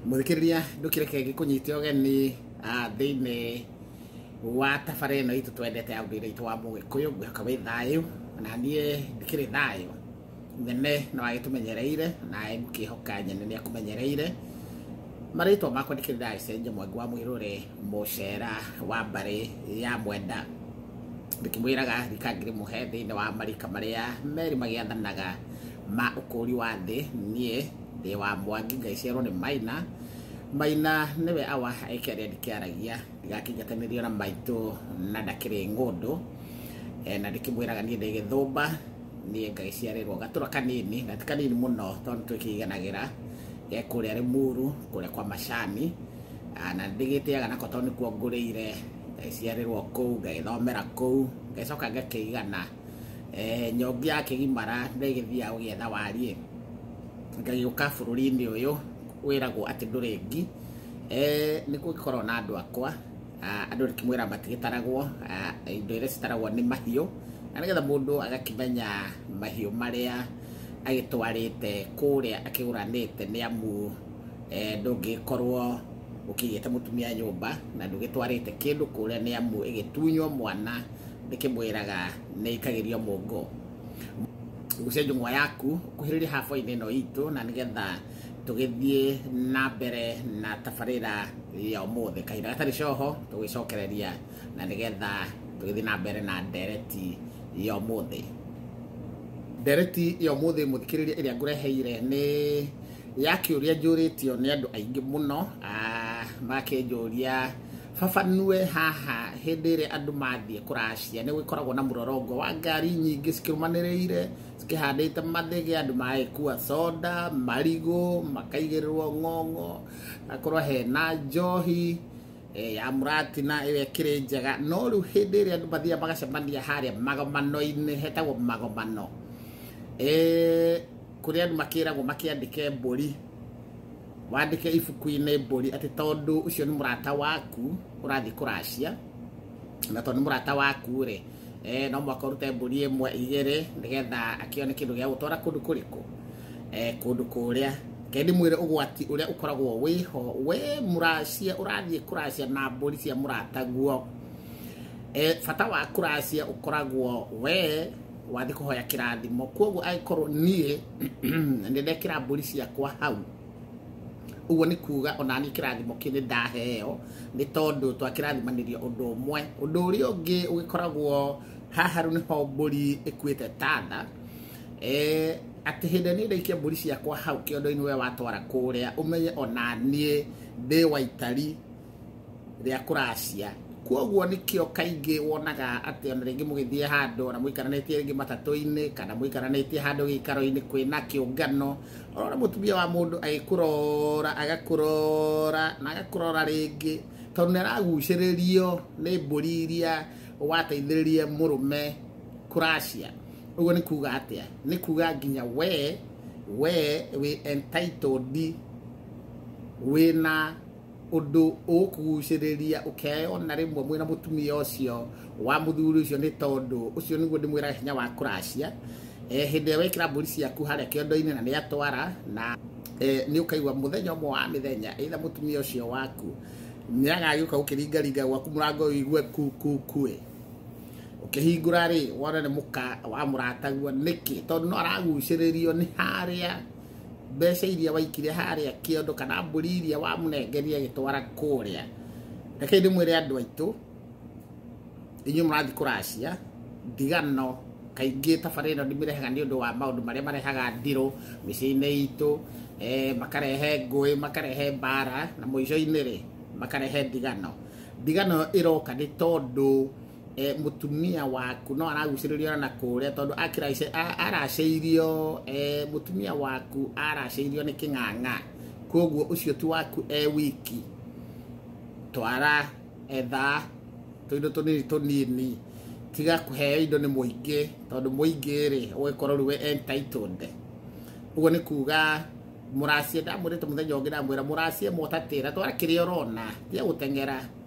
muthikiriria ndukireke ngikunyite ogeni ah, thiini wa tabara ino itu twendete ya ndire itu wa mugikuyu ngwihaka wi thayu na nie ndikiri thayu nyene no agitumenyereire nae mukihoka nyene ni akumenyereire marĩtwa makwa ndikĩrĩ ndagĩcenjia mwangi wa mwĩrũre mũcera wa mbarĩ ya mwenda ndĩkĩmwĩraga rika ngĩrĩ mũhe thĩinĩ wa marika marĩa merĩ magĩathanaga ma ũkũũri wa thĩ niĩ ndĩ wa mwangi ngai ciarwo nĩ maina maina nĩwe awa ĩkĩa rĩa ndikĩaragia ndigakĩnjatanĩrio na maitũ na ndakĩrĩ ng'ũndũ Eh, na ndĩkĩmwĩraga niĩ ndĩ gĩthũmba niĩ ngai ciarĩrwo gatũra kanini na ti kanini mũno tondũ twĩkĩiganagĩra eh, kũrĩa rĩmuru kũrĩa kwa macani Ah, na ndĩgĩtĩaga nako tondũ nĩkuo ngũrĩire ngaciarĩrwo kũu ngagĩthomera kũu ngacoka ngakĩigana eh, nyongi ya kĩgimara nĩ ĩgĩthiaga gũgĩetha wariĩ ngagĩũka bũrũri-inĩ ũyũ wĩragwo atĩ ndũrĩ ngi Eh, nĩ kũngĩkorwo na andũ akwa ah, andũ rĩkĩmwĩra matigĩtaragwo ah, indo iria citaragwo nĩ mahiũ na nĩgetha mũndũ agakĩmenya mahiũ marĩa agĩtwarĩte kũrĩa akĩgũranĩte nĩ amu eh, ndũngĩkorwo ũkĩigĩte mũtumia nyũmba na ndũgĩtwarĩte kĩndũ kũrĩa nĩ amu ĩgĩtunywo mwana ndĩkĩmwĩraga nĩ ikagĩrio mũngo gucia njung'wa yaku kuhĩrĩria haboinĩ ĩno itũ na nĩgetha tũgĩthiĩ na mbere na tabarĩra ya ũmũthĩ kahinda gatarĩ coho tũgĩcokereria na nĩgetha tũgĩthiĩ na mbere na ndereti ya ũmũthĩ ndereti ya ũmũthĩ mũthikĩrĩria ĩrĩa ngũreheire nĩ ya kĩũria njũrĩtio nĩ andũ aingĩ mũno ah, makĩnjũria Baba nue haha hĩndĩ ĩrĩa andũ mathiĩ kũracia nĩ gũkoragwo na mũrorongo wa ngari nyingĩ cikĩrũmanĩrĩire cikĩhandĩte mathĩgĩ andũ magagĩkua soda marigũ makaigĩrĩrwo ng'ong'o akorwo hena njohi eh, ya mũratina ĩyo ĩkĩrĩ njega no rĩu hĩndĩ ĩrĩa andũ mathiaga magacemania harĩa magomano-inĩ hetagwo magomano Eh, kũrĩa andũ makĩragwo makĩandĩke mbũri wandĩke ibuku-inĩ mbũri atĩ tondũ ũcio nĩ mũrata waku ũrathiĩ kũracia na tondũ nĩ mũrata waku rĩ eh, no mwaka ũrute mbũri ĩmwe igĩrĩ nĩgetha akĩone kĩndũ gĩa gũtwara kũndũ kũrĩkũ eh, kũndũ kũrĩa kendi mwĩre ũgwati ũrĩa ũkoragwo wĩho we mũracia ũrathiĩ kũracia na mbũri cia mũrataguo eh, bata wa kũracia ũkoragwo we wathiĩ kũhoya kĩrathimo kwoguo angĩkorwo niĩ nĩ ndekĩra mbũri ciakwa hau ũguo nĩ kuga ona niĩ kĩrathimo kĩu nĩ ndaheo nĩ tondũ twakĩrathimanĩrio ũndũ ũmwe ũndũ ũrĩa ũngĩ ũgĩkoragwo haha rĩu nĩho mbũri ĩkuĩte tatha Eh, atĩ hĩndĩ niĩ ndaikia mbũri ciakwa hau kĩondo-inĩ we watwara kũrĩa ũmenye ona niĩ ndĩ waitari rĩa kũracia kwoguo nĩkĩo kaingĩ wonaga atĩ ona rĩngĩ mũgĩthiĩ handũ ona mũikaranĩtie rĩngĩ matatũ-inĩ kana mũikaranĩtie handũ gĩikaro-inĩ kwĩna kĩũngano ũrona mũtumia wa mũndũ agĩkũrora agakũrora na agakũrora rĩngĩ tondũ nĩaragucĩrĩrio nĩ mbũri iria wateithĩrĩrie mũrũme kũracia ũguo nĩ kuga atĩa nĩ kuga nginya we we wĩ entitled wĩna ũndũ ũgũkũgucĩrĩria ũkeyona rĩmwe mwĩna mũtumia ũcio wa mũthuri ũcio nĩ tondũ ũcio nĩguo ndĩmwĩraga hinya wa kũracia Eh, hĩndĩ ĩrĩa wekĩra mbũri ciaku harĩa kĩondo-inĩ na nĩatwara na eh, nĩ ũkaigua mũthenya ũmwe wa mĩthenya eitha mũtumia ũcio waku nĩagagĩũka gũkĩringaringa gwaku mũrango ũigue kukukuĩ ũkĩhingũra rĩ wona nĩ mũka wa mũratagua nĩkĩ tondũ no aragucĩrĩrio nĩ harĩa mbeca iria waikire harĩa kĩondo kana mbũri iria wamũnengeria agĩtwara kũrĩa rekei ndĩmwĩre andũ aitũ inyuĩ mũrathiĩ kũracia ndigano kaingĩ tabarä ä no ndimĩrehaga nä å ndå wa maå ndå marä a marehaga ndirå mä ciä-inä itå eh, makarehe ngåä makarehe mbara na må ico-inä rä makarehe ndigano ndigano ä roka nä tondå eh, mũtumia waku no aragucĩrĩrio na kũrĩa tondũ akĩraice- a- aracĩirio eh, mũtumia waku aracĩirio nĩ kĩng'ang'a koguo ũcio ti waku e wiki twara etha tũindo tũnini tũnini tiga kũheo indo nĩ mũingĩ tondũ mũingĩ rĩ ũgĩkorwo rĩu we entitled ũguo nĩ kuga mũracie ndamwĩrĩte mũthenya ũngĩ ndamwĩra mũracie mũtatĩra twara kĩrĩa ũrona tiga gũteng'era